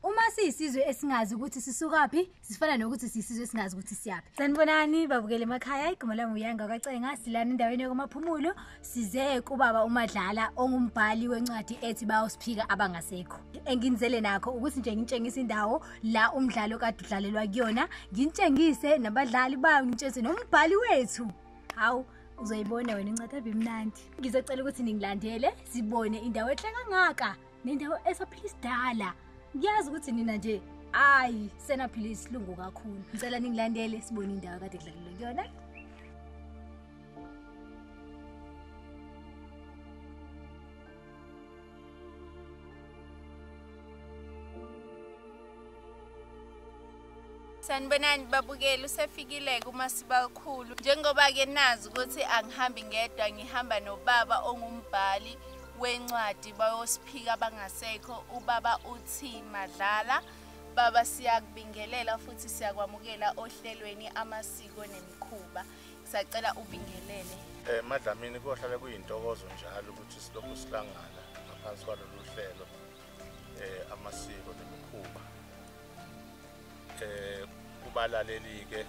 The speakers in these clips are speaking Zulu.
Uma siyisizwe esingazi ukuthi sisukaphi, sifana nokuthi siyisizwe esingazi ukuthi siyaphi. Sanibonani babukele emakhaya, igama lami uyanga kwacenga, silana endaweni yokumaphumulo, size kubaba uMadlala ongumbhali wencwadi ethi bawusiphika abangasekho. Enginizele nakho ukuthi nje ngitshengise indawo la umdlalo kade udlalelwa kuyona, ngitshengise nabadlali bayo, ngitshengise nombhali wethu. Hawu uzoyibona wena incwadi abimnandi. Ngizocela ukuthi ningilandele sibone indawo ehle kangaka. nendawo esaphila isidala ngiyazi ukuthi nina nje ayi senaphila isilungu kakhulu ngicela ningilandele sibone indawo kade kudlalelwe kuyona sanibonani babukeli usefikile-ke umasibalikhulu njengoba-ke nazi ukuthi angihambi ngedwa ngihamba nobaba ongumbhali wencwadi bayosiphika abangasekho ubaba uthi madlala baba siyakubingelela futhi siyakwamukela ohlelweni amasiko nemikhuba sacela ubingelele um madlamini kohlale kuyintokozo njalo ukuthi silokhu sihlangana ngaphansi kwalolu hlelo um amasiko nemikhuba eh kubalaleli ke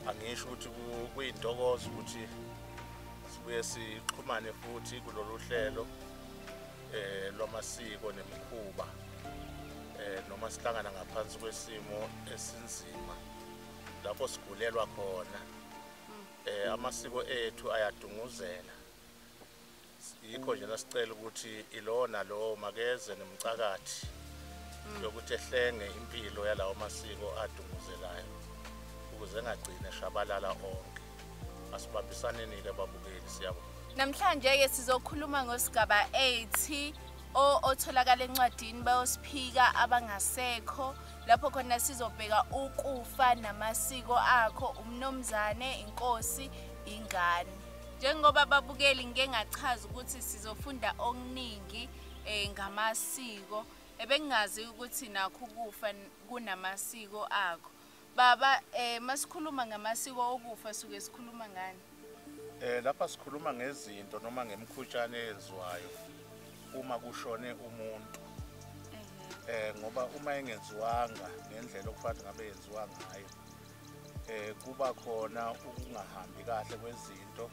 angisho ukuthi kuyintokozo ukuthi sibuye sixhumane futhi kulolu hlelo eh lwamasiko nemikhuba eh noma sihlangana ngaphansi kwesimo esinzima lapho sigulelwa khona eh amasiko ethu ayadunguzela yikho nje nasicela ukuthi ilowo nalowo makeze nemcakathi mm. yokuthi ehlenge impilo yalawo masiko adunguzelayo ukuze engagcine shabalala onke asibambisaneni-ke babukeli siyabona namhlanje-ke sizokhuluma ngosigaba 8 otholakala encwadini bayosiphika abangasekho lapho khona sizobheka ukufa namasiko akho umnomzane inkosi ingane Njengoba babukeli ngike ngachaza ukuthi sizofunda okuningi eh ngamasiko ebengazi ukuthi nakho ukufa kunamasiko akho. Baba eh masikhuluma ngamasiko okufa suke sikhuluma ngani? Eh lapha sikhuluma ngezinto noma ngemkhutshane eyenziwayo uma kushone umuntu. Eh ngoba uma engenziwanga ngendlela okufanele ngabe yenziwa ngayo eh kuba khona ukungahambi kahle kwezinto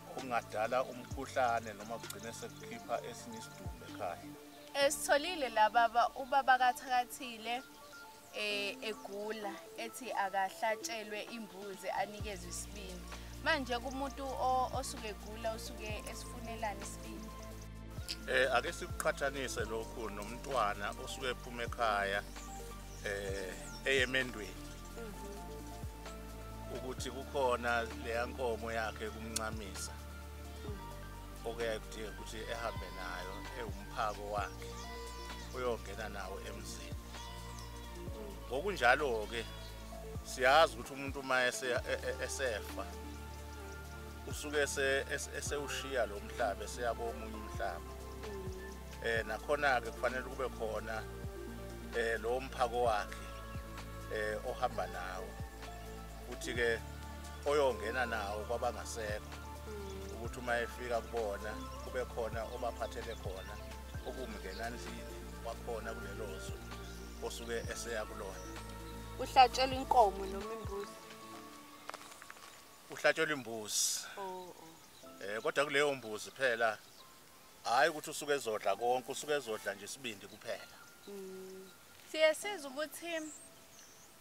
okungadala umkhuhlane noma kugcine sekukhipha esinye isidumbu ekhaya esitholile la baba ubaba kathakathile eh egula ethi akahlatshelwe imbuzi anikezwe isibindi manje kumuntu osuke egula usuke esifunelana isibindi eh ake sikuqhathanise lokhu nomntwana osuke ephuma ekhaya eh eyemendweni mhm. ukuthi kukhona leya nkomo yakhe kumncamisa mhm. okuyakudinga ukuthi ehambe nayo ewumphako wakhe uyongena nawo emzini mhm. ngokunjalo ke siyazi ukuthi umuntu uma e, e, esefa usuke esewushiya lo mhlaba eseyakomunye umhlaba eh nakhona ke kufanele kube khona eh lo mphako wakhe eh ohamba nawo uthi ke oyongena nawo kwabangasekho mm. ukuthi uma efika kubona kube khona obaphathele khona ukumngena endlini wakhona kulelo zwe osuke eseya kulona uhlatshelwa inkomo noma imbuzi uhlatshelwa imbuzi oh, oh. eh kodwa kuleyo mbuzi phela hayi ukuthi usuke ezodla konke usuke ezodla nje isibindi kuphela mm. siye sizwe ukuthi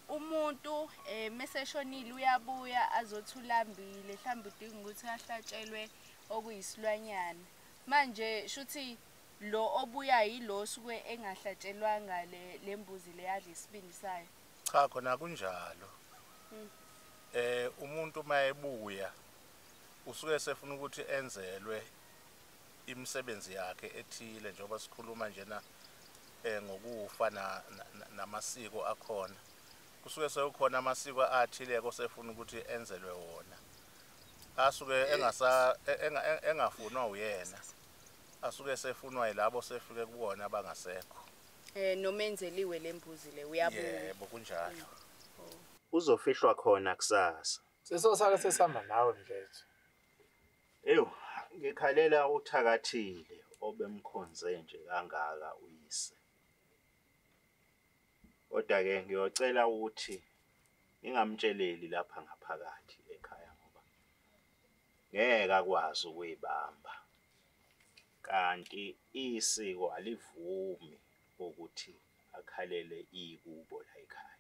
umuntu eh meseshonile uyabuya azothi ulambile mhlawumbe udinga ukuthi ahlatshelwe okuyisilwanyana manje shuthi lo obuya yilo suke engahlatshelwanga le lembuzi leyadla isibindi sayo cha khona kunjalo hmm. eh umuntu mayebuya usuke sefuna ukuthi enzelwe imisebenzi yakhe ethile njengoba sikhuluma njena eh, ngokufa namasiko akhona kusuke sekukhona amasiko athileko sefuna ukuthi enzelwe wona asuke eh, engasa e, e, engafunwa uyena asuke sefunwa yilabo sefike kubona abangasekho eh noma enzeliwe lembuzi le uyabuya yebo kunjalo mm. oh. uzofihlwa khona kusasa sesosake sesihamba nawe mdlethu Eyo, ngikhalela uthakathile obemkhonze nje kangaka uyise. Kodwa ke ngiyocela ukuthi ngingamtsheleli lapha ngaphakathi ekhaya ngoba ngeke akwazi ukuyibamba. Kanti isiko alivumi ukuthi akhalele ikubo la ekhaya.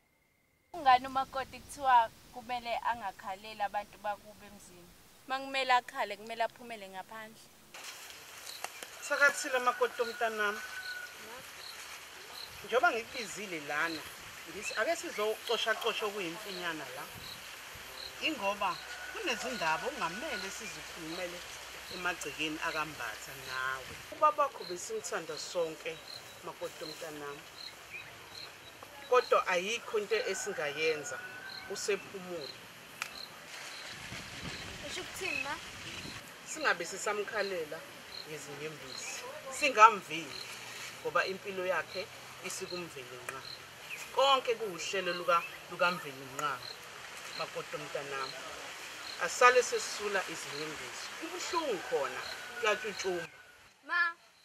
Kungani umakoti kuthiwa kumele angakhaleli abantu bakuba emzini? Uma kumele akhale kumele aphumele ngaphandle. Sakathile amakoti omntanami. Njengoba ngikubizile lana, ngithi ake sizocoshacosha okuyimfinyana la. Ingoba kunezindaba okungamele sizikhulumele emagcekeni akambatha nawe. Ubabakho besimthanda sonke makoti omntanami. Kodwa ayikho into esingayenza usephumule. Usho ukuthini ma? Singabe sisamkhalela ngezinyembezi. Singamvini ngoba impilo yakhe isikumvele nqa. Konke kuwuhlelo luka lukamveli nqa. Makoto mntanami. Asale sesula izinyembezi. Kubuhlungu khona kuyatshutshuma. Ma,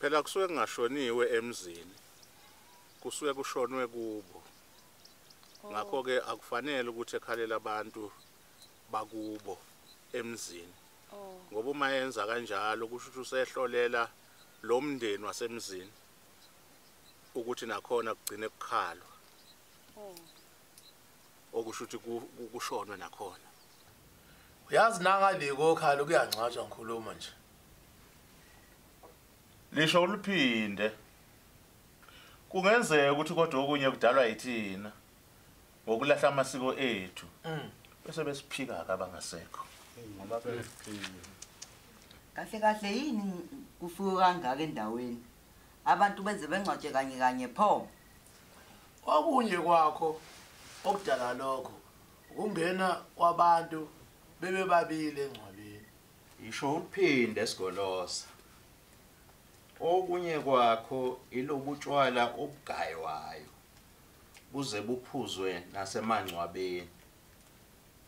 Phela kusuke kungashoniwe emzini. Kusuke kushonwe kubo. Oh. Ngakho ke akufanele ukuthi ekhalela abantu bakubo emzini. Oh. Ngoba uma yenza kanjalo kusho ukuthi usehlolela lo mndeni wasemzini ukuthi nakhona kugcine kukhalwa. Oh. Okusho ukuthi kushonwe nakhona. Uyazi nangale kokhala kuyangcwatshwa ngikhuluma nje. lisho uliphinde kungenzeka ukuthi kodwa okunye kudalwa yithina ngokulahla amasiko ethu mm. bese besiphika-ke abangasekho ngoba besiphika kahle kahle yini kufiwe kangaka endaweni abantu benze bengcwatshe kanye kanye pho okunye kwakho okudala lokho ukungena kwabantu bebebabili engcwabeni Yisho uphinde sigolosa. Okunye kwakho ilobutshwala obugaywayo buze buphuzwe nasemangcwabeni.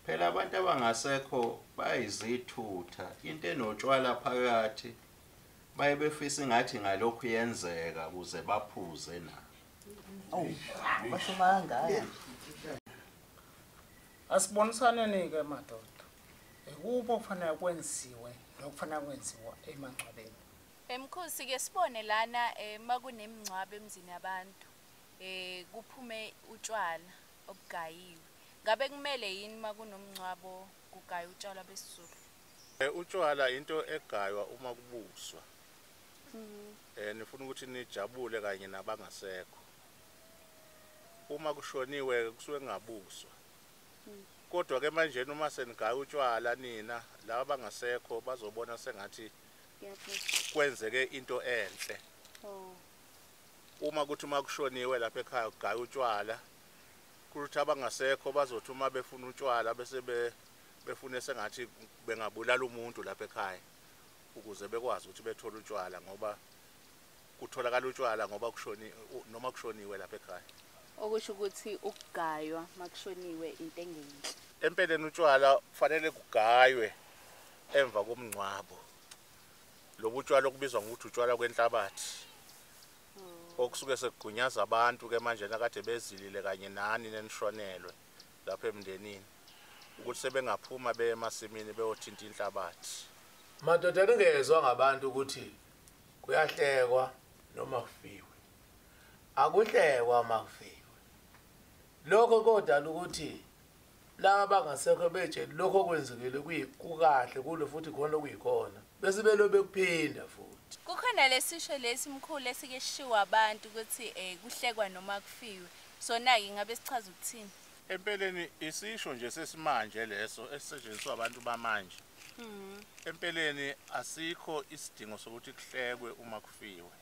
Phela abantu abangasekho bayizithutha into enotshwala phakathi baye befisa ingathi ngalokhu yenzeka kuze baphuze na. Oh, basho mangaya. Asibonisaneni ke madoda. Ikuphi okufanele kwenziwe nokufanele kwenziwa emangcwabeni? Emkhosi ke sibone lana eh, makunemingcwabo emzini yabantu eh kuphume utshwala obugayiwe. Ngabe kumele yini makunomngcwabo kugaya utshwala besizulu? Eh, utshwala into egaywa uma kubuswa. Mhm. Eh nifuna ukuthi nijabule kanye nabangasekho. Uma kushoniwe kusuke ngabuswa. kodwa ke manjena uma senigaya utshwala nina laba bangasekho bazobona sengathi kwenzeke into enhle oh. uma kuthi uma kushoniwe lapha ekhaya kugaya utshwala kuthi abangasekho bazothi uma befuna utshwala bese befune sengathi bengabulala umuntu lapha ekhaya ukuze bekwazi ukuthi bethole utshwala ngoba kutholakala utshwala ngoba kushoni noma kushoniwe lapha ekhaya okusho ukuthi ukugaywa makushoniwe into engenhle empeleni utshwala kufanele kugaywe emva komngcwabo lobu utshwala okubizwa ngokuthi utshwala kwenhlabathi oh. okusuke sekugunyaza abantu ke manje nakade bezilile kanye nani nenishonelwe lapha emndenini ukuthi sebengaphuma beye emasimini beyothinta inhlabathi madoda ningezwa ngabantu ukuthi kuyahlekwa noma kufiwe akuhlekwa uma kufiwe lokho kodala ukuthi laba bangasekho betsheli lokho okwenzekile kukahle kulo futhi khona okuyikhona bese belo bekuphinda futhi kukhona lesisho lesi mkhulu esike sishiwa abantu ukuthi um kuhlekwa noma kufiwe sona-ke ngabe sichaza ukuthini empeleni isisho nje sesimanje leso esisetshenziswa abantu bamanje mm. empeleni asikho isidingo sokuthi kuhlekwe uma kufiwe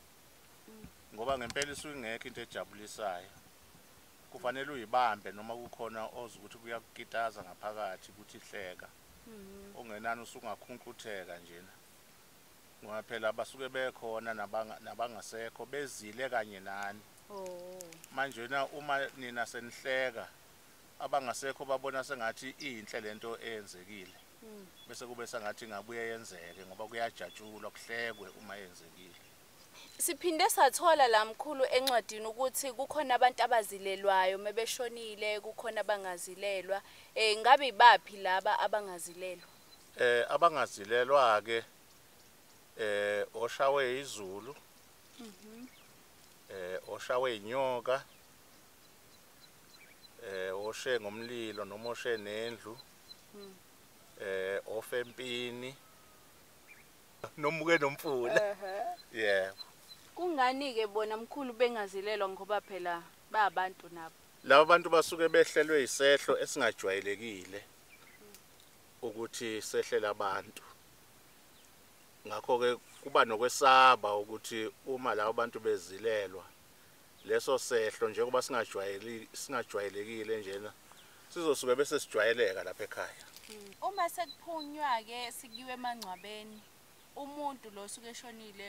mm. ngoba ngempela isuke ingekho into ejabulisayo kufanele uyibambe noma kukhona ozi ukuthi kuyakukitaza ngaphakathi ukuthi hleka mm. ongenani usungakhunqutheka njena ngoba phela abasuke bekhona nabangasekho bezile kanye nani oh. manje na uma nina senihleka abangasekho babona sengathi iyinhle lento eyenzekile hmm. bese kube sengathi ingabuye yenzeke ngoba kuyajatshulwa kuhlekwe uma yenzekile siphinde sathola la mkhulu encwadini ukuthi kukhona abantu abazilelwayo mebeshonile kukhona abangazilelwa eh ngabe ibaphi laba abangazilelwa eh abangazilelwa ke eh oshawe izulu mhm eh oshawe inyoka eh oshe ngomlilo noma oshe nendlu hmm. eh ofempini nomuke nomfula yeah kungani ke bona mkhulu bengazilelwa ngoba phela babantu nabo laba bantu basuke behlelwe isehlo esingajwayelekile ukuthi sehlela abantu ngakho ke kuba nokwesaba ukuthi uma labo bantu bezilelwa leso sehlo njengoba singajwayeli singajwayelekile njena sizosuke bese sijwayeleka lapha ekhaya hmm. uma sekuphunywa ke sikiwe emangcwabeni umuntu lo suke eshonile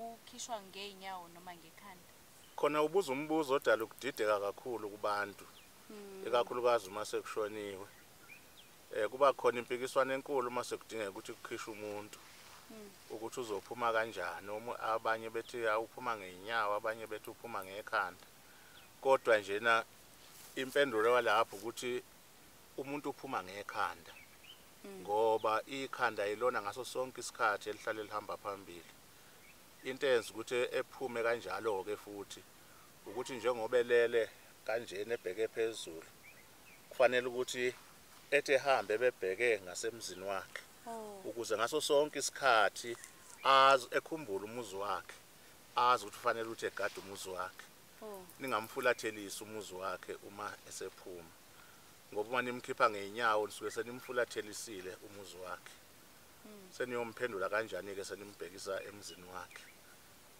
ukhishwa ngeenyawo noma ngekhanda khona ubuza umbuzo odala ukudideka kakhulu kubantu hmm. ikakhulukazi uma sekushoniwe eh kuba khona impikiswano enkulu uma sekudingeka ukuthi kukhishwe umuntu hmm. ukuthi uzophuma kanjani uma abanye bethi awuphuma ngeenyawo abanye bethi uphuma ngekhanda kodwa nje na impendulo yalapho ukuthi umuntu uphuma ngekhanda hmm. ngoba ikhanda yilona ngaso sonke isikhathi elihlale lihamba phambili into eyenza ukuthi ephume kanjalo-ke futhi ukuthi njengoba elele kanjena ebheke phezulu kufanele ukuthi ethi ehambe ebebheke ngasemzini wakhe oh. ukuze ngaso sonke isikhathi azi ekhumbula umuzi wakhe azi ukuthi ufanele ukuthi egade umuzi wakhe oh. ningamfulathelisi umuzi wakhe uma esephuma ngoba uma nimkhipha ngeenyawo nisuke senimfulathelisile umuzi wakhe hmm. seniyomphendula kanjani-ke senimbhekisa emzini wakhe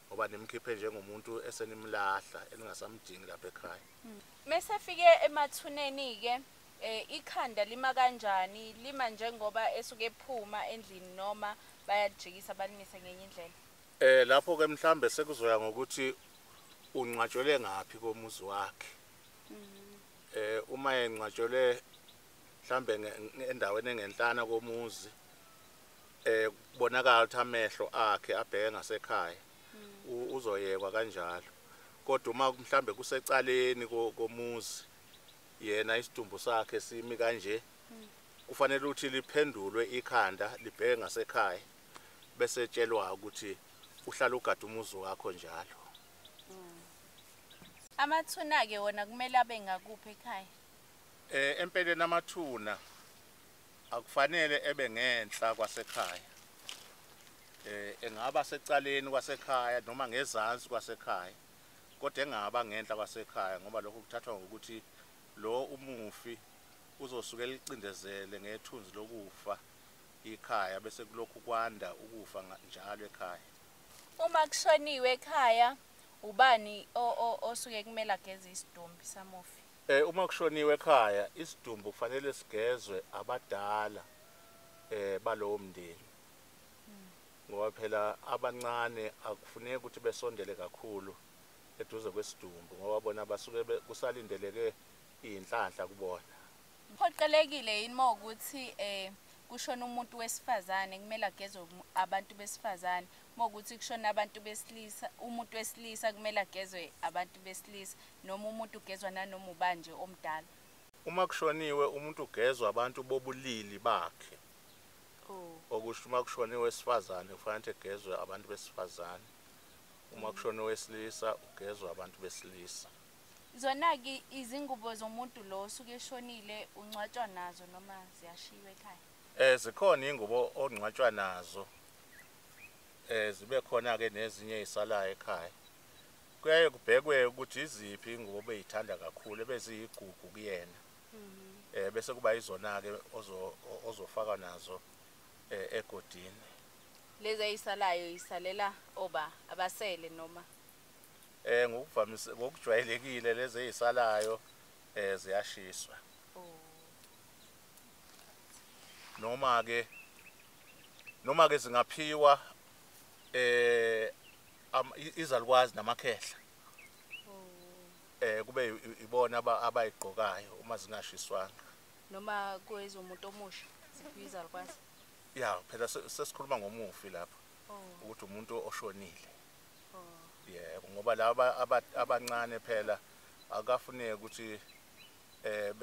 ngoba nimkhiphe njengomuntu esenimlahla eningasamdingi lapha ekhaya mese fike emathuneni ke eh ikhanda lima kanjani lima njengoba esuke ephuma endlini noma bayajikisa balimise ngenye indlela eh lapho ke mhlambe sekuzoya ngokuthi ungcwatshwele ngaphi komuzi wakhe mm-hmm. eh uma engcwatshwele mhlambe endaweni engenhlana komuzi eh kubonakala ukuthi amehlo akhe abheke ngasekhaya hmm. uzoyekwa kanjalo kodwa uma mhlambe kusecaleni komuzi yena isidumbu sakhe simi kanje hmm. kufanele ukuthi liphendulwe ikhanda libheke ngasekhaya bese tshelwa ukuthi uhlala ugada umuzi wakho njalo hmm. amathuna ke wona kumele abe ngakuphi ekhaya eh empeleni amathuna akufanele ebe ngenhla kwasekhaya eh engaba secaleni kwasekhaya noma ngezansi kwasekhaya kodwa engaba ngenhla kwasekhaya ngoba lokho kuthathwa ngokuthi lo umufi uzosuke licindezele ngethunzi lokufa ikhaya bese kulokhu kwanda ukufa njalo ekhaya uma kushoniwe ekhaya ubani osuke kumele ageze isidumbi samufi Eh uma kushoniwe ekhaya isidumbu kufanele sigezwe abadala eh balowo mndeni. Ngoba phela abancane akufuneki ukuthi besondele kakhulu eduze kwesidumbu ngoba bona basuke kusalindeleke inhlanhla kubona. Phoqelekile yini mawukuthi eh kushona umuntu wesifazane kumele agezwe abantu besifazane mawukuthi kushona abantu besilisa umuntu wesilisa kumele agezwe abantu besilisa Noma umuntu ugezwa nanoma ubani nje omdala. Uma kushoniwe umuntu ugezwa abantu bobulili bakhe. Oh. Okusho uma kushoniwe wesifazane kufanele egezwe abantu besifazane. Uma kushoniwe wesilisa ugezwa abantu besilisa. Zona-ke izingubo zomuntu lo osuke eshonile ungcwatshwa nazo noma ziyashiywa ekhaya um zikhona iy'ngubo ongcwatshwa nazo um zibe khona-ke nezinye ey'salayo ekhaya kuyaye kubhekwe ukuthi iziphi ingubo obeyithanda kakhulu ebeziyigugu kuyena mhm. eh bese kuba izona-ke ozofaka nazo eh, egodini lezi ayisalayo isalela oba abasele noma eh ngokuvamise ngokujwayelekile lezi ezisalayo eh ziyashiswa oh. noma ke noma ke zingaphiwa eh izalukwazi namakhehla eh kube ibona abayigqokayo uma zingashiswanga noma kuyizo umuntu omusha sibiza likwazi ya phela sesikhuluma ngomufi lapho oh. ukuthi umuntu oshonile oh. yebo ngoba laba abancane phela akafuneki ukuthi eh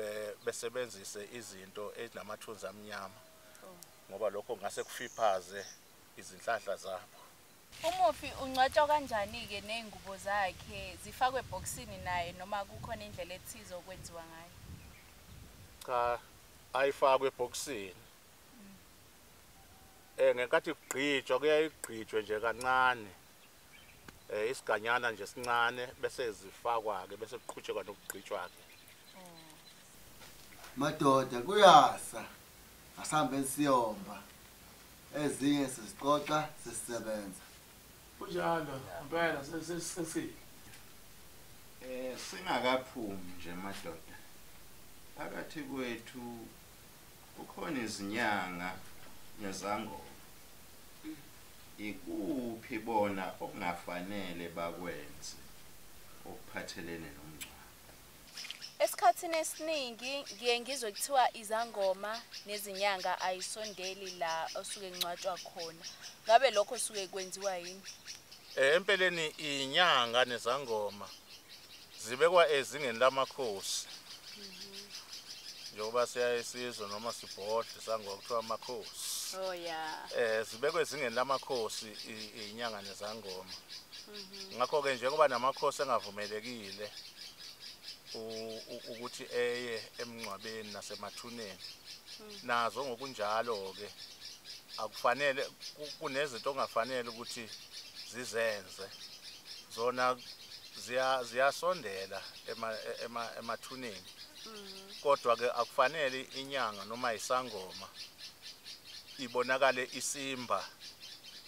besebenzise izinto ezinamathunzi amnyama oh. ngoba lokho ngase kufiphaze izinhlahla zabo Umufi ungcwatshwa kanjani-ke ney'ngubo zakhe zifakwe ebhokisini naye noma kukhona indlela ethize okwenziwa ngayo? Cha, ayifakwe ebhokisini. Mm. Eh ngenkathi kugqitshwa kuyaye kugqitshwe nje kancane. Eh isiganyana nje sincane bese zifakwa-ke bese kuqhutshekwa nokugqitshwa-ke. madoda kuyasa asihambe siyomba ezinye sizixoxa sesisebenza kunjalo impela sesisile eh singakaphumi nje madoda phakathi kwethu kukhona izinyanga nezangoma ikuphi bona okungafanele bakwenze okuphathelene nomngcwabo Esikhathini esiningi ngiye ngizwe kuthiwa izangoma nezinyanga ayisondeli la osuke ngcwatshwa khona. Ngabe lokho suke kwenziwa yini? Eh, empeleni inyanga nezangoma zibekwa ezingeni lamakhosi. Njengoba siyaye sizwe noma sibhodle sangwa kuthiwa amakhosi. Oh yeah. Eh zibekwe ezingeni lamakhosi inyanga nezangoma. Mhm. Ngakho ke njengoba namakhosi engavumelekile ukuthi eye emngcwabeni nasemathuneni hmm. nazo ngokunjalo ke akufanele kunezinto ongafanele ukuthi zizenze zona ziyasondela emathuneni hmm. kodwa ke akufanele inyanga noma isangoma ibonakale isimba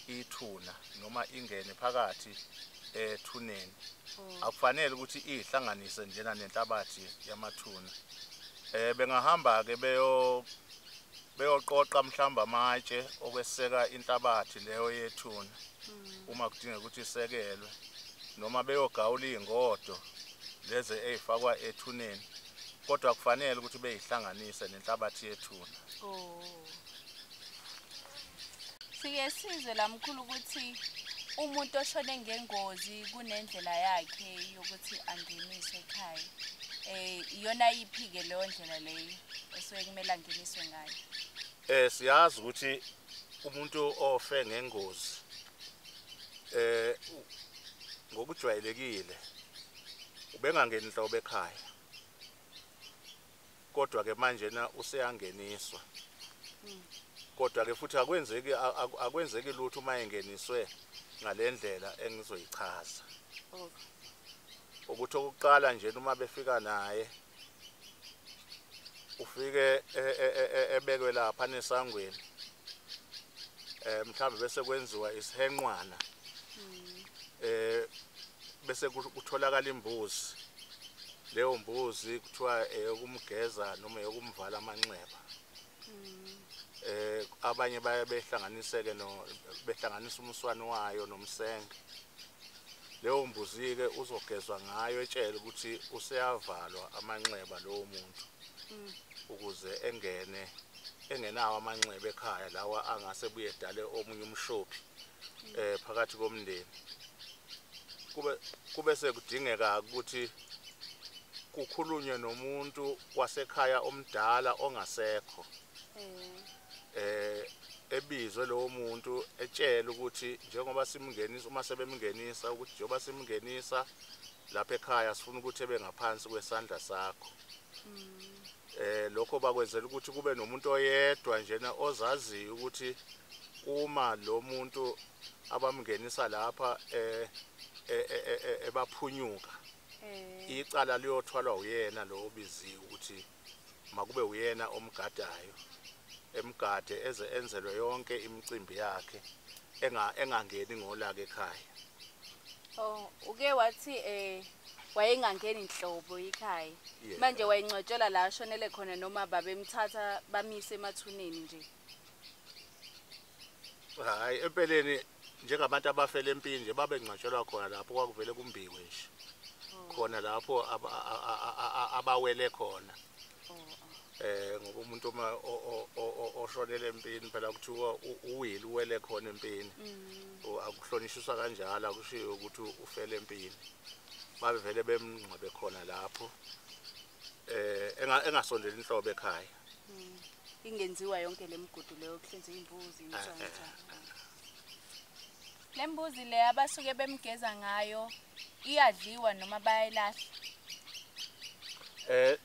ithuna noma ingene phakathi ethuneni mm. akufanele ukuthi ihlanganise njena nenhlabathi yamathuna eh bengahamba ke beyo beyoqoqa mhlamba amatshe okweseka inhlabathi leyo yethuna mm. uma kudingeka ukuthi isekelwe noma beyogawula izingodo lezi ezifakwa ethuneni kodwa kufanele ukuthi beyihlanganise nenhlabathi yethuna oh siye sizwe la mkhulu ukuthi umuntu oshone ngengozi kunendlela yakhe yokuthi angeniswe ekhaya eh iyona iphi-ke leyo ndlela leyo esuke kumele angeniswe ngayo eh siyazi ukuthi umuntu ofe ngengozi eh ngokujwayelekile ubengangeni nhlobo ekhaya kodwa ke manje na useyangeniswa hmm. kodwa ke futhi akwenzeki akwenzeki lutho uma engeniswe ngalendlela engizoyichaza ukuthi okuqala nje uma befika naye ufike e, e, e, ebekwe lapha nesangweni eh mhlawumbe bese kwenziwa isihenqwana hmm. eh bese kutholakala imbuzi leyo mbuzi kuthiwa eyokumgeza noma eyokumvala amanxeba eh abanye baye behlanganiseke no behlanganisa umswani wayo nomsenge leyo mbuzi ke uzogezwa ngayo etshele ukuthi useyavalwa amanxeba lowo muntu mm. ukuze engene engenawo amanxeba ekhaya lawa angase buye edale omunye umshophi eh phakathi komndeni kube kube sekudingeka ukuthi kukhulunywe nomuntu wasekhaya omdala ongasekho eh ebizwe lowo muntu etshela ukuthi njengoba simngenisa uma sebemngenisa ukuthi njengoba simngenisa lapha ekhaya sifuna ukuthi ebe ngaphansi kwesandla sakho eh lokho bakwenzela ukuthi kube nomuntu oyedwa njena ozaziyo ukuthi uma lo muntu abamngenisa lapha eh, eh, eh ebaphunyuka icala liyothwalwa uyena lo obiziwe ukuthi makube uyena omgadayo emgade eze enzelwe yonke imicimbi yakhe engangeni ngolaka ekhaya Oh, uke wathi eh wayengangeni nhlobo ikhaya manje wayengcwetshelwa la ashonele khona noma babemthatha bamise emathuneni nje hayi empeleni njengabantu abafele empini nje babengcwatshelwa khona lapho kwakuvele kumbikwe nje oh. khona lapho abawele khona eh ngoba umuntu uma oshonele empini phela kuthiwa uwile uwele khona empini mm. akuhlonishisa kanjalo akushiyo ukuthi ufele empini babe vele bemngcwabe khona lapho eh engasondeli inhlobo ekhaya mm. ingenziwa yonke lemigudu leyo kuhlinzwa imbuzi eh, eh, eh. Le mbuzi le abasuke bemgeza ngayo iyadliwa noma bayayilahla? Eh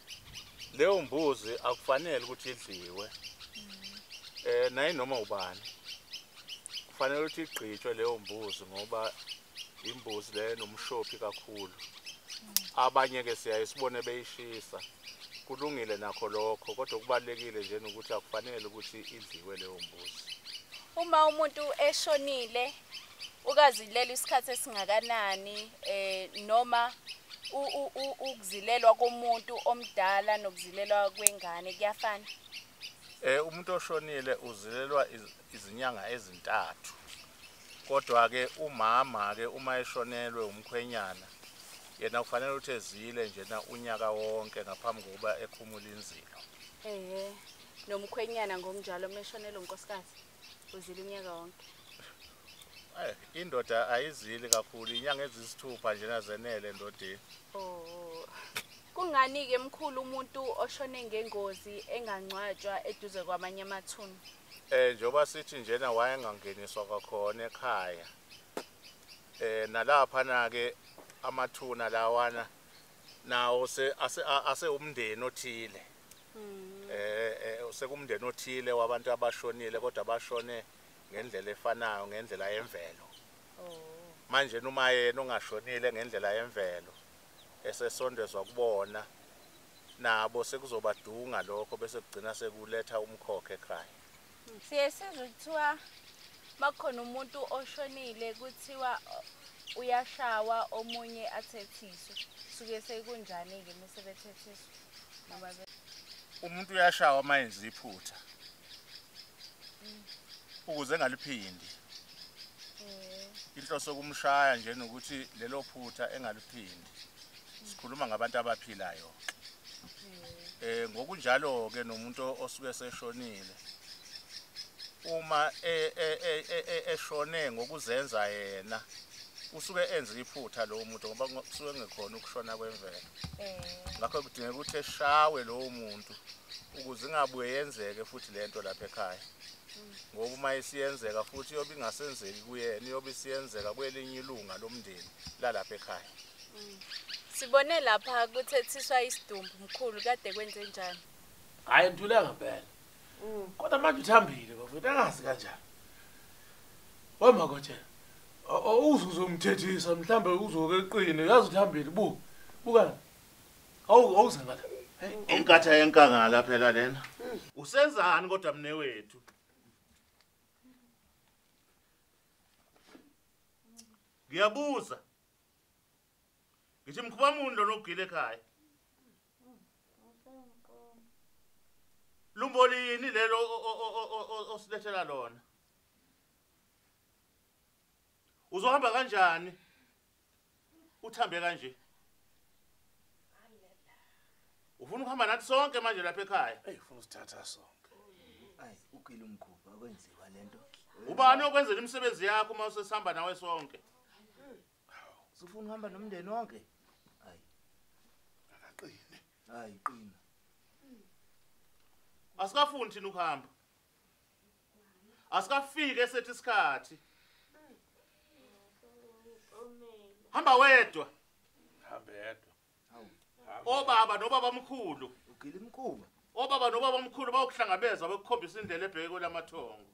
leyo mbuzi akufanele ukuthi idliwe. Eh naye noma ubani. Kufanele ukuthi igqitshwe leyo mbuzi ngoba imbuzi le nomshophi kakhulu. Abanye ke siyaye sibone beyishisa. kulungile nakho lokho kodwa okubalekile nje ukuthi akufanele ukuthi idliwe leyo mbuzi uma umuntu eshonile ukazilela isikhathi esingakanani eh noma ukuzilelwa komuntu omdala nokuzilelwa kwengane kuyafana eh umuntu oshonile uzilelwa izinyanga ezintathu kodwa ke umama ke uma eshonelwe umkhwenyana yena kufanele ukuthi ezile njena unyaka wonke ngaphambi kokuba ekhumule inzilo ehe nomkhwenyana ngokunjalo meshonela unkosikazi uzile unyaka wonke eh indoda ayizili kakhulu inyanga ezisithupha njena zenele endodeni oh kungani ke mkhulu umuntu oshone ngengozi engangcwatshwa eduze kwamanye amathuna eh njoba sithi njena wayengangeniswa kwakhona ekhaya eh nalapha na ke amathuna lawana nawo se ase ase umndeni othile hmm. eh, eh sekumndeni othile wabantu abashonile kodwa bashone ngendlela efanayo ngendlela yemvelo oh. manje noma yena ongashonile ngendlela yemvelo esesondezwa kubona nabo sekuzobadunga lokho bese kugcina sekuletha umkhokhe ekhaya siye sizwe kuthiwa makukhona umuntu oshonile kuthiwa uyashawa omunye athethiswe suke sekunjani-ke uma sebethethiswa umuntu uyashawa uma enza iphutha ukuze engaliphindi eh. inhloso kumshaya nje nokuthi lelo phutha engaliphindi sikhuluma ngabantu abaphilayo eh. eh ngokunjalo ke nomuntu osuke seshonile uma e, e, e, eshone ngokuzenza yena usuke enza iphutha lowo muntu ngoba kusuke ngekhona ukushona kwemvelo ngakho kudingeka ukuthi eshawe lowo muntu ukuze ingabuye yenzeke futhi le nto lapha ekhaya ngoba uma isiyenzeka futhi iyobe ingasenzeki kuyena iyobe isiyenzeka kwelinye ilunga lomndeni lalapha ekhaya sibone lapha kuthethiswa isidumbu mkhulu kade kwenze njani hhayi ntuleka mpela kodwa manje uthambile bafethu angazi kanjani wamakotshela uzuzomthethisa mhlawumbe uzoke eqine yazi uthambile bu bukani awuzengala inkatha yenkangala phela lena usenzani kodwa mne wethu ngiyabuza ngithi mkhuba muni lona ogile ekhaya lumboli yini lelo osilethela lona uzohamba kanjani uthambe kanje ufuna ukuhamba nathi sonke manje lapha ekhaya eyi ufuna usithatha sonke ayi ukile umkhuba okwenziwa lento ubani okwenzela imisebenzi yakho uma usesihamba nawe sonke Sifuna uhamba nomndeni wonke. Hayi. Akaqine. Hayi qina. Asikafuni thina ukuhamba. Asikafike esethi isikhathi. Hamba wedwa. Hamba yedwa. Obaba nobaba mkhulu. Ugila imkhuba. Obaba nobaba mkhulu bawukuhlangabeza bakukhombisa indlela ebheke kwelamathongo.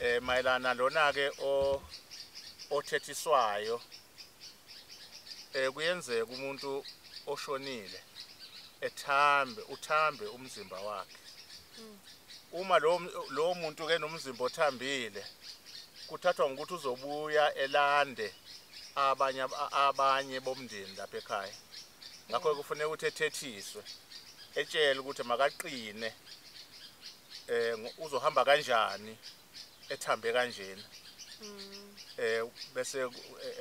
eh mayelana lona ke o othethiswayo eh kuyenzeka umuntu oshonile ethambe uthambe umzimba wakhe hmm. uma lo lo muntu ke nomzimba othambile kuthathwa ngokuthi uzobuya elande abanye abanye bomndeni lapha ekhaya ngakho hmm. kufanele ukuthi ethethiswe etshele ukuthi makaqine eh uzohamba kanjani ethambe kanjena mm. eh bese eh,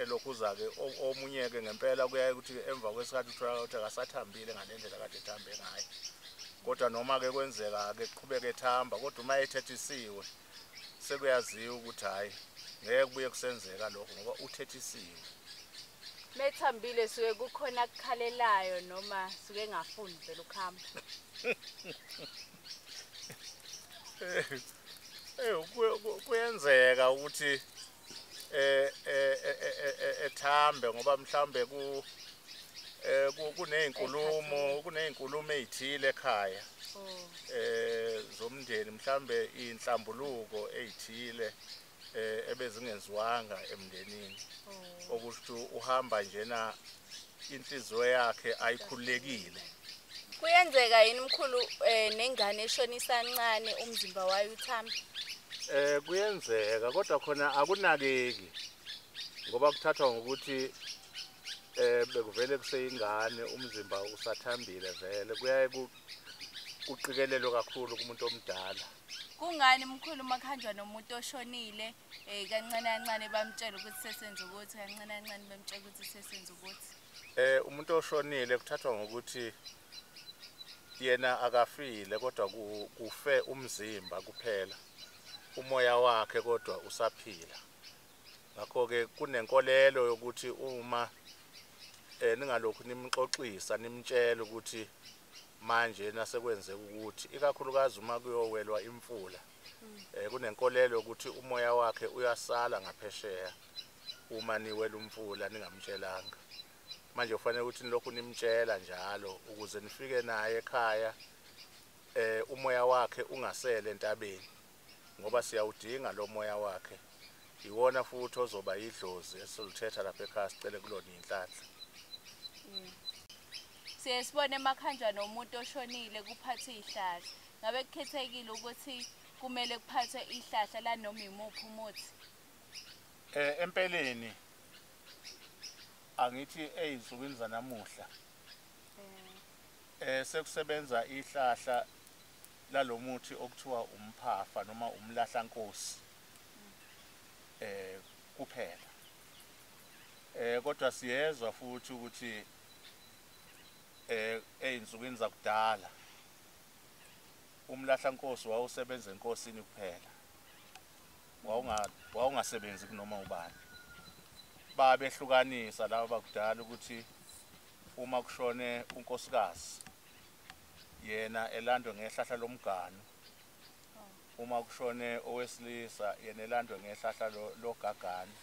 elokhuza ke omunye ke ngempela kuyaye ukuthi emva kwesikhathi uthola ukuthi akasathambile ngalendlela kade ethambe ngayo kodwa noma ke kwenzeka ke qhubeke ethamba kodwa uma ethethisiwe sekuyaziwa ukuthi hayi ngeke kubuye kusenzeka lokho ngoba uthethisiwe methambile suke kukhona akukhalelayo noma suke engafuni vele ukuhamba Eh kuyenzeka ukuthi eh ethambe ngoba mhlambe ku eh kunezinkulumo kunezinkulumo ezithile ekhaya oh. eh zomndeni mhlambe inhlambuluko ezithile eh ebezingenziwanga emndenini oh. okusho uhamba njena inhliziyo yakhe ayikhulekile kuyenzeka yini mkhulu eh, nengane eshona isancane umzimba wayo uthamba eh kuyenzeka kodwa khona akunakeki ngoba kuthathwa ngokuthi eh bekuvele kuseyingane umzimba usathambile vele kuyaye kuqikelelwe kakhulu kumuntu omdala kungani mkhulu uma kuhanjwa nomuntu oshonile um kancane kancane bamtshele ukuthi sesenza ukuthi kancane kancane bamtshele ukuthi sesenza ukuthi um umuntu oshonile kuthathwa ngokuthi yena akafile kodwa kufe umzimba kuphela umoya wakhe kodwa usaphila ngakho-ke kunenkolelo yokuthi uma um ningalokhu nimxoxisa nimtshela ukuthi manje nasekwenzeka ukuthi ikakhulukazi uma kuyowelwa imfula um kunenkolelo yokuthi umoya wakhe uyasala ngaphesheya uma niwela umfula ningamtshelanga manje kufanele ukuthi nilokhu nimtshela njalo ukuze nifike naye ekhaya um umoya wakhe ungasele entabeni ngoba siyawudinga lo moya wakhe iwona futhi ozoba yidlozi esiluthetha lapha ekhaya sicele kulona inhlanhla mm. siye sibone emakhanjwa nomuntu oshonile kuphathe ihlahla ngabe kukhethekile ukuthi kumele kuphathwe ihlahla lanoma imuphi umuthi eh empeleni angithi ezinsukwini zanamuhla eh, eh sekusebenza ihlahla lalo muthi okuthiwa umphafa noma umlahlankosi eh kuphela eh kodwa siyezwa futhi ukuthi eh ezinsukwini zakudala umlahla nkosi wawusebenza enkosini kuphela wawunga wawungasebenzi kunoma ubani babehlukanisa laba bakudala ukuthi uma kushone unkosikazi yena elandwe ngehlahla lomganu uma kushone owesilisa yena elandwe ngehlahla logagani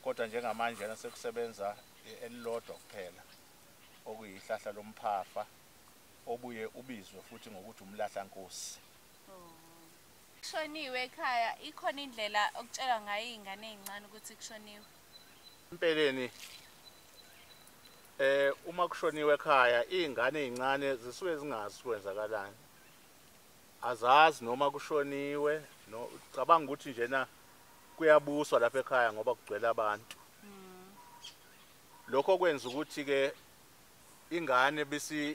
kodwa njengamanje yena sekusebenza elilodwa kuphela okuyihlahla lomphafa obuye ubizwe futhi ngokuthi umlahla nkosi kushoniwe ekhaya ikhona indlela okutshelwa ngayo izingane ezincane ukuthi kushoniwe empeleni Eh uma kushoniwe ekhaya izingane ezincane zisuke zingazi kwenzakalani. Azazi noma kushoniwe no cabanga ukuthi njena kuyabuswa lapha ekhaya ngoba kugcwele abantu. Hmm. Lokho kwenza ukuthi ke ingane bisi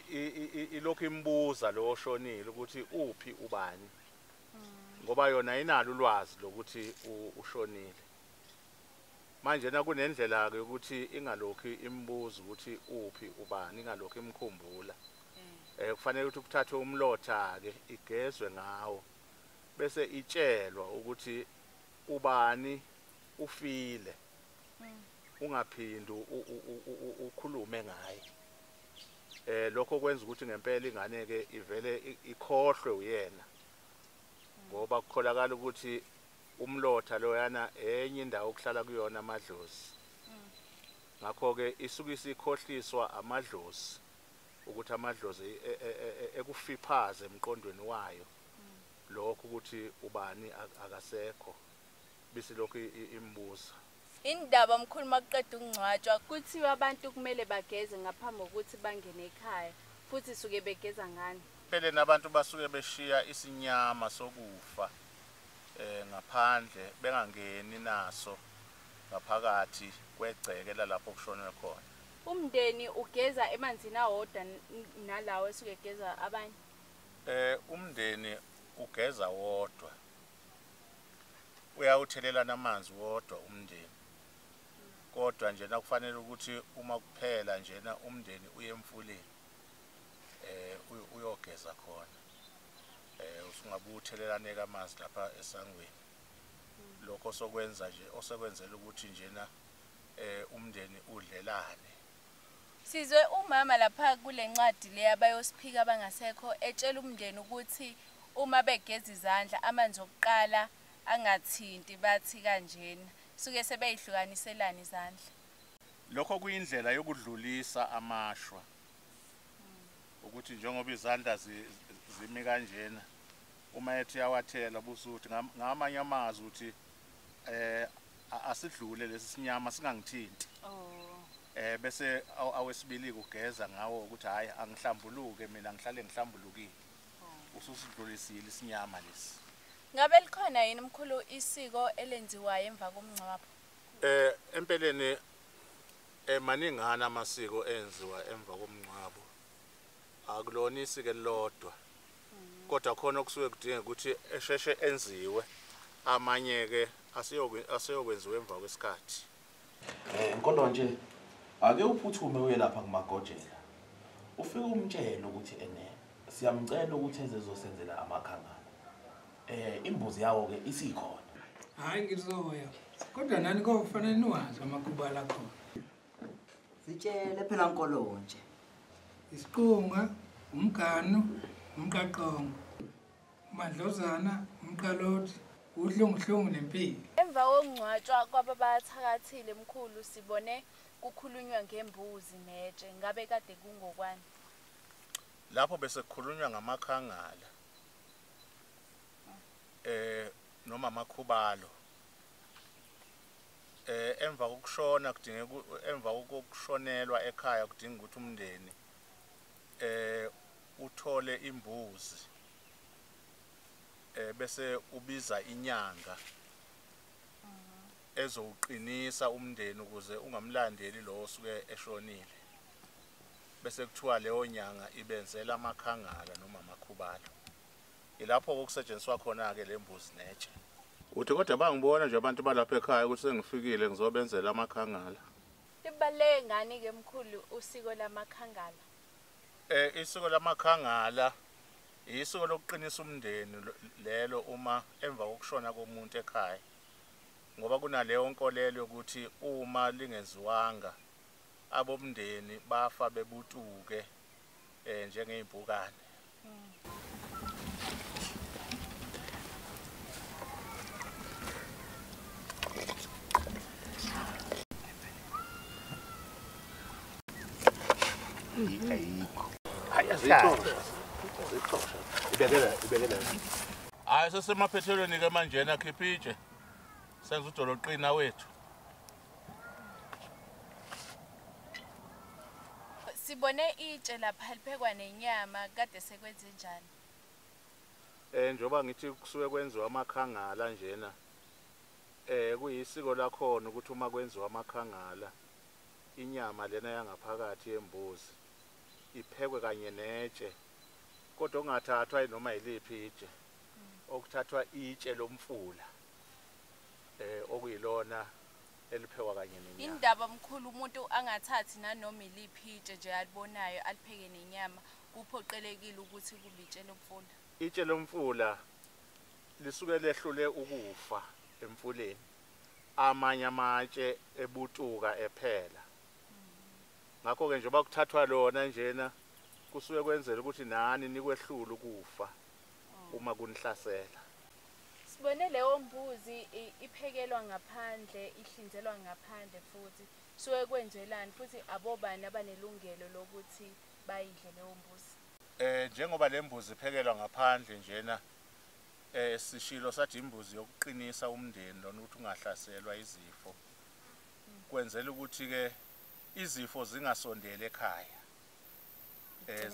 ilokhu imbuza lo oshonile ukuthi uphi ubani. Hmm. Ngoba yona inalo ulwazi lokuthi ushonile. manje nakunendlela-ke yokuthi ingalokhu imbuza ukuthi uphi ubani ingalokhu imkhumbula um kufanele ukuthi kuthathwe umlotha-ke igezwe ngawo bese itshelwa ukuthi ubani ufile mm. ungaphindi ukhulume ngaye eh lokho kwenza ukuthi ngempela ingane ke ivele ikhohlwe uyena ngoba kukholakala ukuthi umlotha loyana enye indawo okuhlala kuyona amadlozi ngakho-ke isuke isikhohliswa amadlozi ukuthi amadlozi e, e, e, ekufiphaze emqondweni wayo lokho ukuthi ubani akasekho bisilokhu imbuza Indaba mkhulu makuqeda ukungcwatshwa kuthiwa abantu kumele bageze ngaphambi kokuthi bangene ekhaya futhi suke begeza ngani? Empeleni abantu basuke beshiya isinyama sokufa eh ngaphandle bengangeni naso ngaphakathi kwegceke lalapho kushonwe khona. Umndeni ugeza emanzini awodwa nalawo esuke egeza abanye? Eh umndeni ugeza wodwa. uyawuthelelana amanzi wodwa umndeni kodwa njena kufanele ukuthi uma kuphela njena umndeni uye emfuleni um uyogeza khona um usungabe uthelelaneka amanzi lapha esangweni lokho sokwenza nje osekwenzela ukuthi njena um umndeni udlelane Sizwe umama lapha kule ncwadi le abayosiphika abangasekho etshela umndeni ukuthi uma begeza izandla amanzi okuqala angathinti bathi kanjena suke sebeyihlukaniselana izandla. Lokho kuyindlela yokudlulisa amashwa ukuthi njengoba izandla zimi kanjena uma ethi uyawathela busuthi ngamanye amazwi ukuthi eh asidlule lesi sinyama singangithinti oh eh bese awesibili kugeza ngawo ukuthi hayi angihlambuluke mina ngihlale ngihlambulukile oh. ususidlulisile isinyama lesi ngabe likhona yini mkhulu isiko elenziwayo emva komngcwabo eh empeleni emaningana eh, amasiko enziwa emva komngcwabo akulona isike lodwa kodwa khona okusuke kudinga ukuthi esheshe enziwe amanye-ke aseyokwenziwa emva kwesikhathi um kodwa nje ake uphuthume uye lapha kumagojela ufike umtshele ukuthi ene siyamcela ukuthi ezezosenzela amakhangana eh imbuzi yawo ke isikhona hayi ngizoya kodwa nani kofanele niwazi amakhuba lakhona sitshele phela nkolonje isiqunga umganu umqaqongo umadlozana umqalothi uhlunguhlungu nempilo emva kokungcwatshwa kwababathakathile mkhulu sibone kukhulunywa ngembuzi netshe ngabe kade kungokwani lapho bese kukhulunywa ngamakhangala eh noma amakhubalo eh emva kokushona kudingeka emva kokushonelwa ekhaya kudinga ukuthi umndeni eh uthole imbuzi eh bese ubiza inyanga ezowuqinisa umndeni ukuze ungamlandeli lo osuke eshonile bese kuthiwa leyo nyanga ibenzela amakhangala noma amakhubalo Yilapho okusetshenziswa khona-ke le mbuzi netshe. Uthi kodwa bangibona nje abantu balapha ekhaya ukuthi sengifikile ngizobenzela amakhangala. Libaluleke ngani-ke mkhulu usiko lamakhangala? Eh isiko lamakhangala isiko lokuqinisa umndeni lelo uma emva kokushona komuntu ekhaya ngoba kunaleyo nkolelo yokuthi uma lingenziwanga abomndeni bafa bebutuke eh njengeimpukane ayikho hayi azixosha azixosha ibekela ibekela hayi sesemaphethelweni ke manjena khipha itshe senza udoloqina wethu Sibone itshe lapha liphekwa nenyama kade sekwenze njani? Eh njoba ngithi kusuke kwenziwa amakhangala njena. Eh kuyisiko lakhona ukuthi uma kwenziwa amakhangala inyama lena yangaphakathi yembuzi iphekwe kanye netshe kodwa okungathathwa noma yiliphi itshe okuthathwa itshe lomfula eh okuyilona eliphekwa kanye nenyama indaba mkhulu umuntu angathathi nanoma iliphi itshe nje alibonayo alipheke nenyama kuphoqelekile ukuthi kube itshe lomfula itshe lomfula lisuke lehlule ukufa emfuleni amanye amatshe ebutuka ephela ngakho ke njengoba kuthathwa lona njena kusuke kwenzela ukuthi nani nikwehlula ukufa uma kunihlasela sibone leyo mbuzi iphekelwa ngaphandle ihlinzelwa ngaphandle futhi suke kwenzelani futhi abobani abanelungelo lokuthi bayidle leyo mbuzi eh njengoba lembuzi iphekelwa ngaphandle njena eh sishilo sathi imbuzi yokuqinisa umndeni lona ukuthi ungahlaselwa izifo kwenzela ukuthi ke izifo zingasondeli ekhaya eh,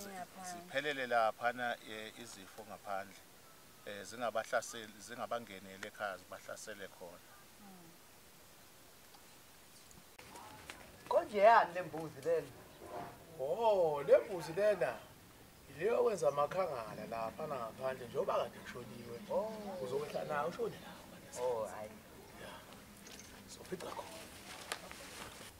ziphelele laphana eh, izifo ngaphandle eh, zingabahlaseli zingabangeneli ekhaya zibahlasele khona hmm. konje yani le mbuzi lena o oh, le mbuzi lena yileyo okwenza amakhangala laphana ngaphandle njengoba kade kushoniwe oh. uzokwehla nayo ushone lapha oh, sophica khona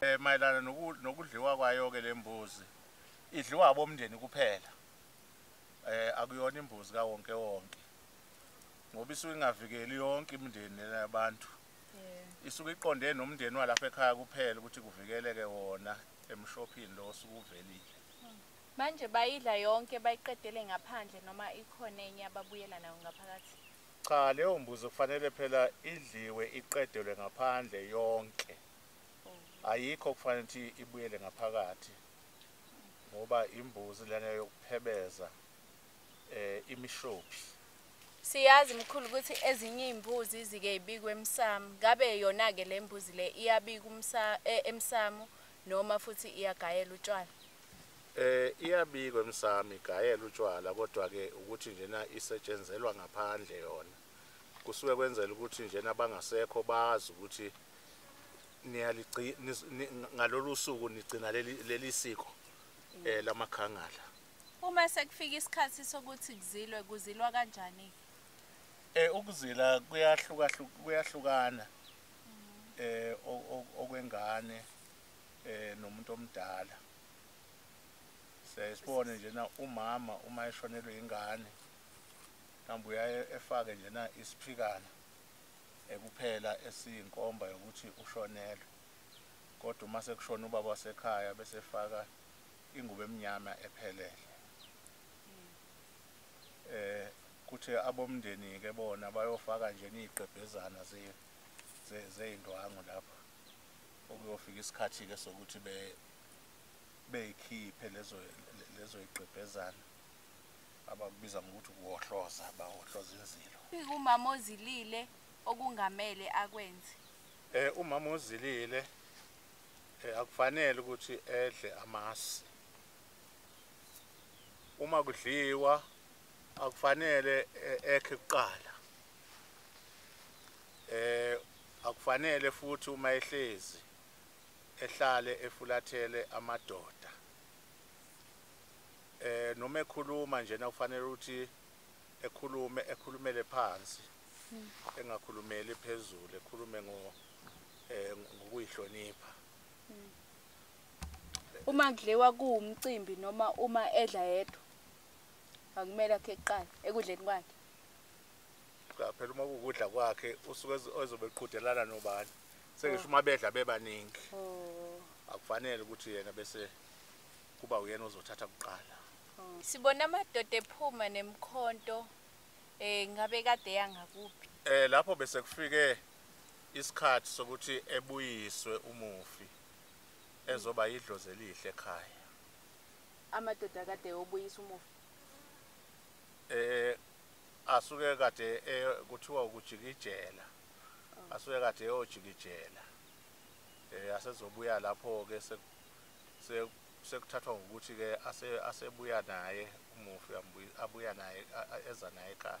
Eh mayelana nokudliwa kwayo ke lembuzi idliwa abomndeni kuphela. Eh akuyona imbuzi ka wonke wonke. Ngoba isuke ingavikeli yonke imindeni yabantu. Isuke iqonde nomndeni walapha ekhaya kuphela ukuthi kuvikeleke wona emshophini lo osukuvelile. Manje bayidla yonke bayiqedele ngaphandle noma ikhona enye ababuyela nayo ngaphakathi? Cha leyo mbuzi kufanele phela idliwe iqedelwe ngaphandle yonke. Ayikho kufanele ukuthi ibuyele ngaphakathi. Ngoba imbuzi lena yokuphebeza eh imishopi. Siyazi mkhulu ukuthi ezinye izimbuzi zike ibikwe emsamo. Ngabe yona ke lembuzi le iyabika umsa e, emsamo noma futhi iyagayela utshwala. Eh iyabikwa emsami igayela utshwala kodwa ke ukuthi njena isetshenzelwa ngaphandle yona. Kusuke kwenzela ukuthi njena bangasekho bazi ukuthi niyaligcina ngalolu suku nigcina leli siko eh lamakhangala. Uma sekufika isikhathi sokuthi kuzilwe kuzilwa kanjani? Eh ukuzila kuyahluka kuyahlukana. Eh okwengane eh nomuntu omdala sesibone nje na umama uma eshonelwe ingane kambe uyaye efake nje na isiphikana ekuphela esiyinkomba yokuthi ushonelwe kodwa uma sekushona ubaba wasekhaya bese efaka ingubo emnyama ephelele eh kuthi abomndeni ke bona bayofaka nje niqebhezana ze zeyindwangu lapha okuyofika isikhathi-ke sokuthi be beyikhiphe lezo lezo igqebhezana abakubiza ngokuthi ukuwohloza bawohloza inzilo umama ozilile okungamele akwenze eh umama ozilile eh, akufanele ukuthi edle amasi uma kudliwa akufanele eh, ekhe kuqala eh Akufanele futhi uma ehlezi ehlale efulathele amadoda eh noma ekhuluma nje nakufanele ukuthi ekhulume ekhulumele phansi hmm. engakhulumeli phezulu ekhulume ngo eh ngokuyihlonipha hmm. uma kudliwa kuwumcimbi noma uma edla yedwa akumele akhe eqala ekudleni kwakhe cha phela uma kukudla kwakhe usuke ezobe eqhudelana nobani sengisho uma bedla bebaningi oh. akufanele ukuthi yena bese kuba uyena ozothatha kuqala oh. sibona amadoda ephuma nemkhonto eh ngabe kade yangakuphi eh lapho bese kufike isikhathi sokuthi ebuyiswe umufi ezoba yidlozi elihle ekhaya amadoda kade obuyisa umufi eh asuke kade e- kuthiwa ukujikijela asuke kade eyojikijela eh asezobuya lapho ke se- se- sekuthathwa ngokuthi ke ase- asebuya naye umufi ambuyi- abuya naye a- a- eza naye ekhaya